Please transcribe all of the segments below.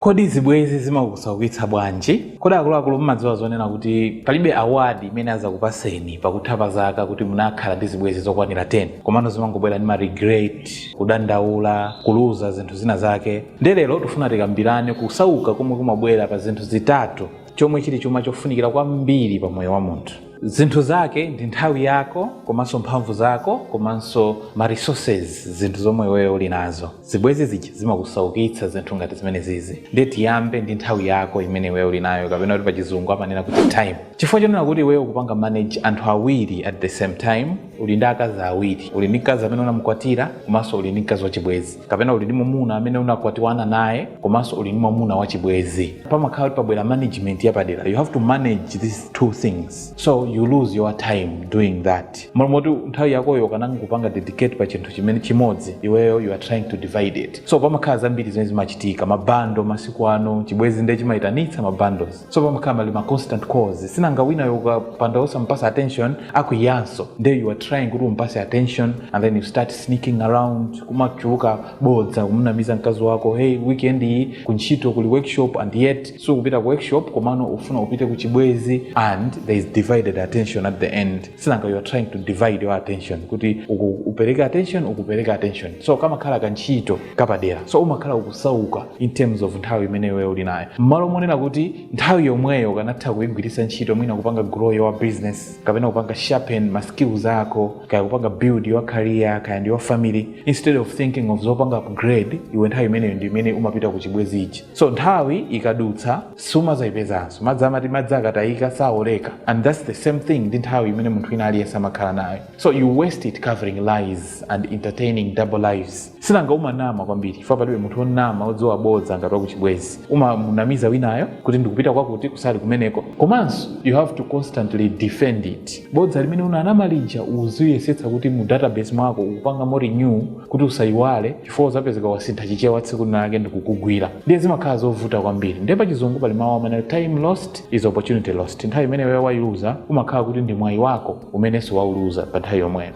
Kodi zibwezi zimakusaukitsa bwanji? Kodi akuluakulu mumadziwa zonena kuti palibe award imene azakupaseni pakutha pa zaka kuti munakhala ndi zibwezi zokwanira 10 komano zimangobwera ndi ma regret, kudandaula, kuluza zinthu zina zake. Nde lero tufuna tikambirane kusauka komwe kumabwera pa zinthu zitatu chomwe chili chuma chofunikira kwambiri pa moyo wa munthu. zinthu zake ndi nthawi yako komanso mphamvu zako komanso ma resources zinthu zomwe iweyo uli nazo zibwezi zija zimakusaukitsa zinthu ngati zimene zizi ndiye tiyambe ndi nthawi yako imene iweyo uli nayo kapena kuti pachizungu amanena kuti time chifukwa chonena kuti iweyo ukupanga manage anthu awiri at the same time Uli ndi akazi awiri. Uli ndi mkazi amene unamukwatira komanso uli ndi mkazi wachibwezi. Kapena uli ndi mwamuna amene unakwatiwana naye komanso uli ndi mwamuna wachibwezi. Pamakhala kuti pabwera management yapadera. You have to manage these two things. So you lose your time doing that. Mmalo moti nthawi yakoyo ukanangopanga dedicate pa chinthu chimene chimodzi, iweyo you are trying to divide it. So pamakhala zambiri zimene zimachitika. Mabando masiku ano, chibwezi ndiye chimaitanitsa mabando. so pamakhala pali ma constant calls sinanga winayo ukapanda osampasa attention akwiyanso nde you are trying kuti umpase attention and then you start sneaking around kumachuluka bodza kumunamiza mkazi wako hey weekend iyi kuntchito kuli workshop and yet sukupita ku workshop komano ufuna upite ku chibwezi and there is divided attention at the end sinanga you are trying to divide your attention kuti uku upereke attention uku upereke attention so kamakhala kantchito kapadera so umakhala ukusauka in terms of nthawi imene iweyo uli nayo mmalo monena kuti nthawi yomweyo ukanatha kuigwiritsa ntchito mwina kupanga grow your business kapena kupanga sharpen ma skills ako kaya kupanga build your career kaya ndi your family instead of thinking of zopanga upgrade iwe nthawi imeneyo ndi imene umapita ku chibwezi ichi so nthawi ikadutsa sumazayipezanso madzi amati madzi akatayika saoleka and that's the same thing ndi nthawi imene munthu wina aliyense amakhala nayo so you waste it covering lies and entertaining double lives sinanga umanama kwambiri chifukwa palibe munthu wonama wodziwa bodza ngati wakuchibwezi umamunamiza winayo kuti ndikupita kwakuti kusali kumeneko komanso you have to constantly defend it bodza limene unanama lija uziyesetsa kuti mu database mwako ukupanga mo renew kuti usayiwale chifukwa uzapezeka wasintha chichewa tsiku linalake ndikukugwira ndiye zimakhala zovuta kwambiri ndiye pa chizungu pali mawu amanena time lost is opportunity lost nthawi imene wewe wayiluza umakhala kuti ndi mwayi wako umenenso wauluza pa nthawi yomweyo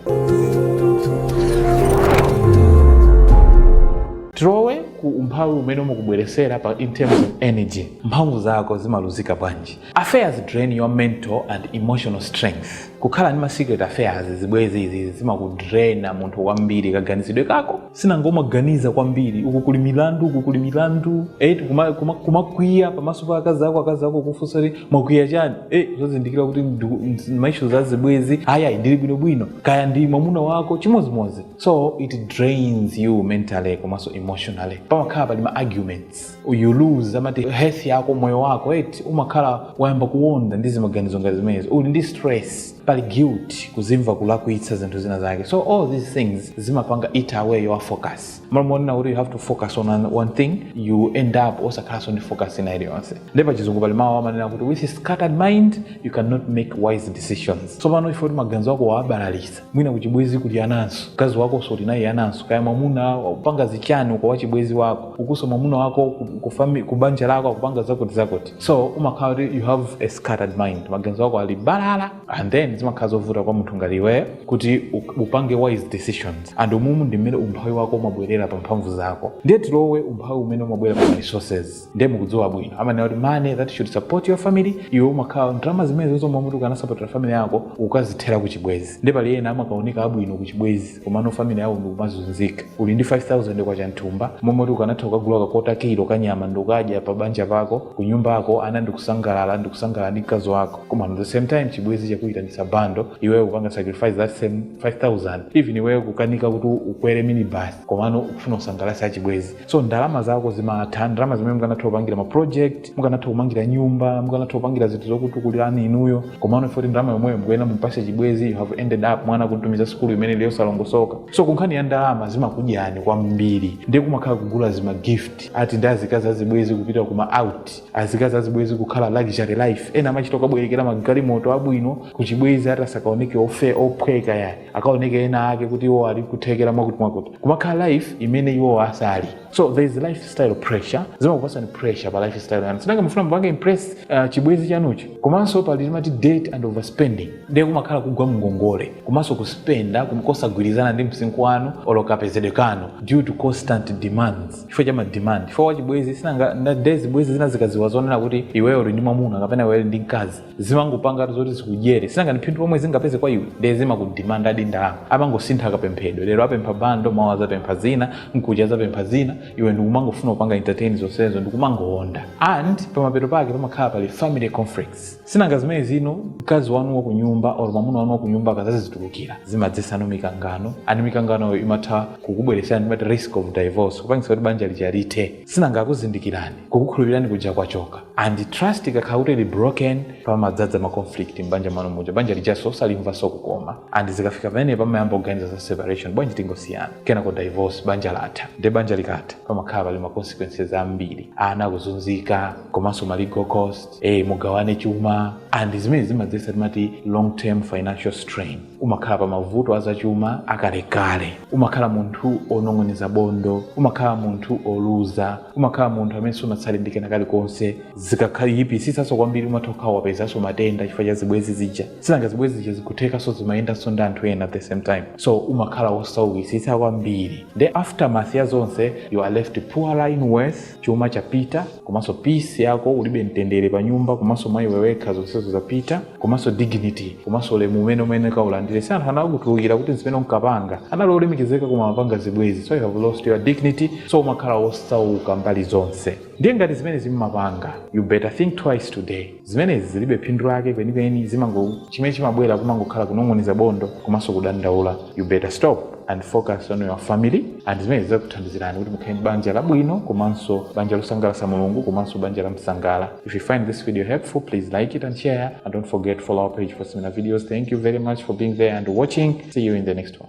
tilowe ku umphawi umene umakubweresera pa in terms of energy mphamvu zako zimaluzika bwanji affairs drain your mental and emotional strength kukhala ndi ma secret affairs zibwezi izi zimakudraina munthu kwambiri kaganizidwe kako sinanga umaganiza kwambiri uku kuli milandu uku kuli milandu eh, kumakwiya kuma, kuma kumakwiya pamaso pa akazi ako akazi ako kufunsa kuti mwakwiya chani eh, osazindikira kuti maishu a zibwezi ayayi ndili bwinobwino kaya ndi mwamuna wako chimodzimodzi so it drains you mentally komanso emotionally pamakhala pali ma arguments you lose amati health yako moyo wako eti umakhala wayamba kuwonda ndi zimaganizo ngati zimenezi uli ndi stress pali guilt kuzimva kulakwitsa zinthu zina zake so all these things zimapanga eat away your focus malo monena kuti you have to focus on an- one thing you end up osakhalanso ndi focus ina iliyonse nde pa chizungu pali mawu amanena kuti with a scattered mind you cannot make wise decisions so pano chifukwa choti maganizo ako wawabalalitsa mwina kuchibwezi kuli ananso mkazi wako uli naye ananso kaya mwamuna akupanga zichani uko wachibwezi wako ukuso mwamuna wako ku- ku fami- ku banja lako akupanga zakuti zakuti so umakhala kuti you have a scattered mind maganizo ako ali balala and then zimakhala zovuta kwa munthu ngati iweyo kuti u- upange wise decisions and umumu ndi mmene umphawi wako umabwerera pa mphamvu zako ndiye tilowe umphawi umene umabwera pa resources ndiye mukudziwa bwino amanena kuti money that should support your family iwe umakhala ndalama zimenezo zomwe uti ukanasapotera family yako ukazithera ku chibwezi nde pali ena amakaoneka abwino ku chibwezi komano family yawo ndikumazunzika uli ndi 5000 kwacha mthumba momwe kuti ukanatha kukagula kakota kilo kanyama ndikukadya pa banja pako ku nyumba yako ana ndikusangalala ndikusangalala ndi mkazi wako koma at the same time chibwezi chakuyitanitsa bando iweyo kupanga sacrifice that same 5000 even iweyo kukanika kuti ukwere minibus komano ukufuna usangalatse achibwezi so ndalama zako zimatha ndalama zimene mukanatha kupangira ma project mukanatha kumangira nyumba mukanatha kupangira zinthu zokutukulirani inuyo komano ifoti ndalama yomweyo mukuyenera mumpase chibwezi you have ended up mwana kumtumiza sikulu imene ili yosalongosoka so kunkhani ya ndalama zimakudyani kwambiri ndiye kumakhala kugula zima gift ati ndi azikazi azibwezi kupita kuma out azikazi azibwezi kukhala luxury life ena amachita kukabwerekera magalimoto abwino kuchibwezi ati asakaoneke ofe ophweka yayi akaoneke ena ake kuti iwo ali kuthekera mwakuti mwakuti kumakhala life imene iwo asali so there is lifestyle pressure zimakupasani pressure pa lifestyle yanu sinanga mufuna mupange impress uh, chibwezi chanuchi komanso pali timati debt and overspending ndiye kumakhala kugwa mngongole komanso kuspenda kumkosagwirizana ndi msinkhu wanu olo kapezedwe kanu due to constant demands chifukwa cha mademand chifukwa chibwezi sinanga nda- nde zibwezi zina zikaziwa zonena kuti iweyo uli ndi mwamuna kapena iweyo uli ndi mkazi zimangopanga zoti zikudyere sinanga ndi phindu pomwe zingapeze kwa iwe ndiye zimakudimandadi ndalama amangosintha kapemphedwe lero apempha bando mawa azapempha zina mkuja azapempha zina iwe ndikumangofuna kupanga entertain zonsezo ndikumangowonda and pamapeto pake pamakhala pali family conflicts sinanga zimene zino mkazi wanu wa kunyumba or mwamuna wanu wa kunyumba akazazitulukira zimadzesano mikangano and mikanganoyo imatha kukubweresani timati risk of divorce kupangisa kuti banja lija lithe sinanga akuzindikirani kukukhulupirani kuja kwachoka and trust ikakhala kuti ili broken pamadzadza ma conflict m'banja mwanu muja banja lijaso osalimvaso kukoma and zikafika pamene pamayamba kuganiza za separation bwanji tingosiyana kenako divorce banja latha nde banja likatha pamakhala pali ma consequences ambiri ana akuzunzika komanso ma legal cost eh mugawane chuma and zimene zimadzetsa timati long term financial strain umakhala pa mavuto azachuma akalekale umakhala munthu onong'oneza bondo umakhala munthu oluza umakhala munthu amene sunatsale ndi kena kalikonse zikakayipisitsanso kwambiri umatha kukhala wapezanso matenda chifukwa cha zibwezi zija sinanga zibwezi zija zikuthekanso zimayendanso ndi anthu ena at the same time so umakhala wosaukisitsa kwambiri the aftermath ya zonse you are left poorer in worth chuma chapita komanso peace yako ulibe mtendere pa nyumba komanso mwa iwe wekha zonsezo zapita komanso dignity komanso ulemu umene umenkaulandira si anthu anakutulukira kuti zimene unkapanga anali olemekezeka koma amapanga zibwezi so you have lost your dignity so umakhala wosauka mbali zonse ndiye ngati zimenezi mmapanga you better think twice today zimenezi zilibe phindu lake kwenikweni zimango chimene chimabwera kumangokhala kunong'oneza bondo komanso kudandaula you better stop and focus on your family and zimenezi zikuthandizirani kuti mukhale banja labwino komanso banja losangalatsa mulungu komanso banja la msangala if you find this video helpful please like it and share and don't forget to follow our page for similar videos thank you very much for being there and watching see you in the next one